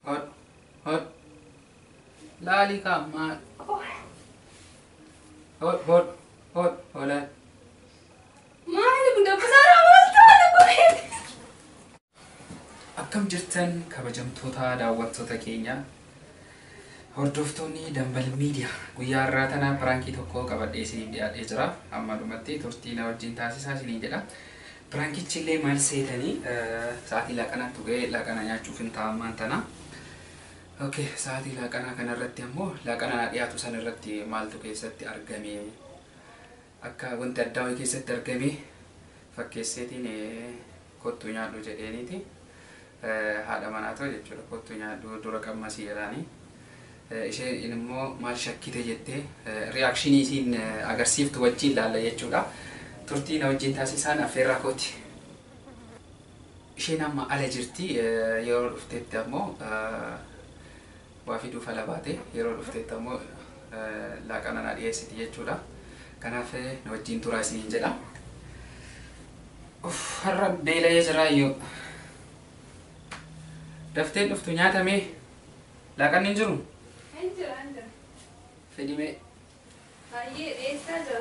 Hod hod laali ka maal hod hod hod holan Maali kun dabbasaa raawwattaa dhukkubee. akkam jirtan kabajamtoota daawwattoota keenya hordoftoonni dambal miidiya guyyaa har'aa tana piraankii tokko qabadhee isiniif dhiyaadhee jira amma dhumatti turtii na wajjin taasisaa isiniin jedha Pirankichillee maal seetanii sa'aatii laaqanaa turee laaqanaa nyaachuufin ta'a ammaan tana. Ok sa'aatii laaqanaa kana irratti ammoo laaqana naa dhiyaatu san irratti maaltu keessatti argame akka wanti addaa wayii keessatti argame fakkeesseetiin kottu nyaadhu jedheeniiti. haadha manaa too jechuudha kottu nyaadhu dura qammasii jedhaanii isheen immoo maal shakkite jettee reaction isiin agarsiiftu wajjiin laalla jechuudha turtii na wajjiin taasisaan affeerraa kooti isheen amma ala jirti yeroo dhuftetti ammoo waa fiduu fala baate yeroo dhufteetti ammoo laaqana naa dhiyeessiti jechuudha. Kanaaf na wajjiin turaa isiniin jedha. Uff har'a beela'ee jiraayyuu. Dafteen dhuftu nyaata mee laaqanni hin jiru? Hin jira, hin jira. Fidi mee. Hayyee dhiyeessaa jira.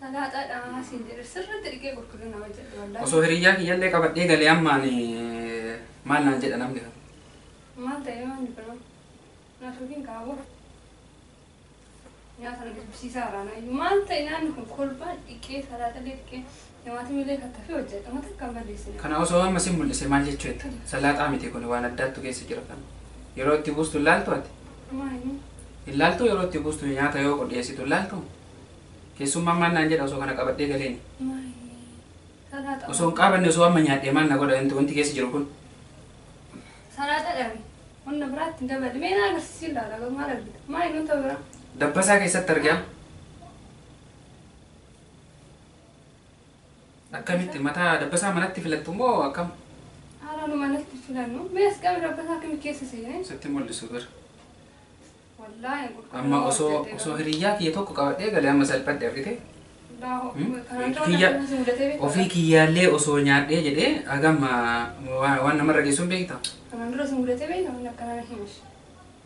Salaaxaa dhaamaa siin jedhe sirriitti dhiqee qulqullina hojjedhe wallaahi. Osoo hiriyyaa kiyyallee qabadhee galee ammaan maal naan jedha namni kun. Maal ta'ee manni biroo? Na tuqiin qabu. Nyaata na dubbisiisaa irraa nayyu. Maal ta'e nyaanni kun kolbaan dhiqee salaaxallee dhiqee Nyamaatiim ilee kattafi hojjadha ma takka hin balleessine. Kana osoo amma si mul'ise maal jechuu jetta? Salaaxaa miti kuni waan addaattu keessa jira kan yeroo itti buustu hin laaltu ati? Homaa hin himu. Hin laaltuu yeroo itti buustu nyaata yoo qodhiyeessitu hin laaltuu? Keessummaan maal naan jedha osoo kana qabadhee galeeni? Maayii. Salaaxa. Osoo hin qaabanne osoo amma nyaadhee maal na godha wanti wanti keessa jiru kun? Salaaxa dhabi. Hunda biraatti hin daballi. Mee na agarsiisi ilaala garuu maal argita? Maayii nuun ta'u biraa. Dabbasaa keessatti argaa. Akkamitti mataa dabbasaa manatti filattu moo akkam? Haala nu manatti filannu mee as qabi dabbasaa akkamitti keessa seenee? Sitti mul'isu bir. Wallaahi hin qulqulluu. Amma osoo osoo hiriyyaa kiyya tokko qabadhee galee amma salphadhe argite. Ofii kiyyaallee osoo nyaadhee jedhee hagam waan namarra geessuun beektaa? Kanaan dura si mudatee beektaa? Kanaan dura si mudatee beektaa?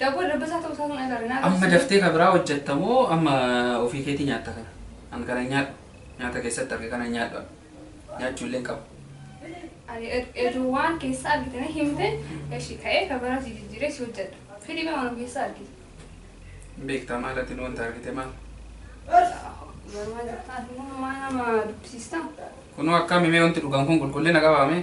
Dabboo dabbasaa ta'uu isaa sun agarre naa Amma daftee ka biraa hojjetta moo amma ofii keetii nyaatta kana? An kana hin nyaadhu. Nyaata keessatti arge kana hin nyaadhu an. Nyaachuu illee hin qabu. Ani etuu waan keessa argite na himte eshi ka'ee ka biraa si jijjiiree si hojjedha. Fidii mee waan of keessa argite. Hin beektaa maal ati nu wanta argite maal? Garumaa jirtaa ati immoo maa nama dubbisiistaa? Kunoo akkaami mee wanti dhugan kun qulqullina qabaamee?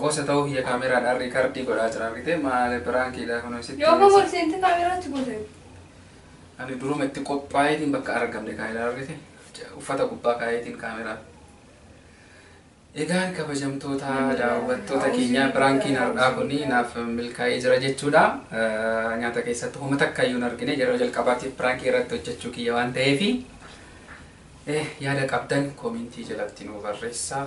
Qosa ta'uu kiyya kaameraadhaan riikardii godhaa jira argitee maale piraankiidha kunoo sitti Yoo dhiyeessa. kofol seente kaameraatti gote. Ani duruma itti qophaa'eetiin bakka argamne kaa'eera argite uffata gubbaa kaa'eetiin kaameraa. Egaan kabajamtoota daawwattoota keenyaa piraankiin har'aa kun naaf milkaa'ee jira jechuudha. Eh, Nyaata keessatti homa takka iyyuu hin argine yeroo jalqabaatiif piraankii irratti hojjechuu kiyya waan ta'eefi eh, yaada qabdan koomentii jalatti nuu barreessaa.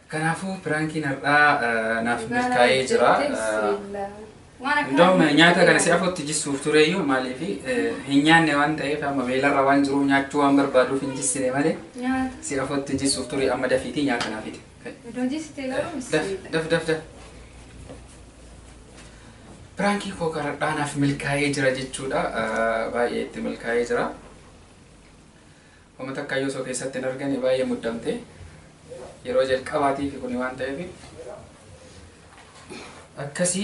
Kanaafuu piraankiin har'aa naaf milkaa'ee jira. Indoom nyaata kana si afootti jissuuf tureeyyuu maaliif hin nyaanne waan ta'eef amma beelarra waan jiruuf nyaachuu waan barbaaduuf hin jissine malee si afootti jissuuf ture amma dafiitii nyaata naaf fide. Daf daf daf daf. Piraankii koo karadhaa naaf milkaa'ee jira jechuudha. Baay'ee itti milkaa'ee jira. Homa takkaayyu osoo keessatti hin argane baay'ee muddamte. Yeroo jalqabaatiifi kuni waan ta'eefi. Akkasi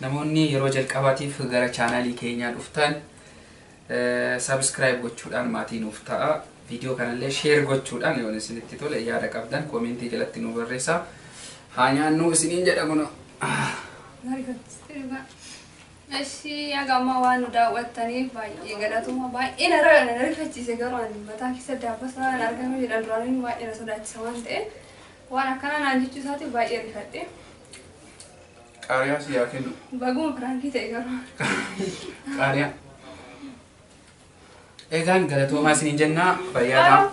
namoonni yeroo jalqabaatiif gara chaanaalii keenyaa dhuftan subscribe gochuudhaan maatii nuuf ta'a. Viidiyoo kanallee share gochuudhaan yoo isinitti tole yaada qabdan koomentii jalatti nu barreessaa. Haa nyaannuu isiniin jedha kunoo. Maariifatti dhugaa. Eshi haga ammaa waan nu daawwattaniif baay'ee galatoomaa baay'ee na ra- na rifachiise garuu ani mataa keessa daabasa waan argamee jedhan duraan inni baay'ee na sodaachisa waan ta'e waan akkanaa naan jechuu isaatiif baay'ee rifadhe Qaariyaa si yaa kennu. baguma piraankii ta'e garuu Qaariyaa. Egaan galatoomaa isiniin jennaa fayyaa ta'aa.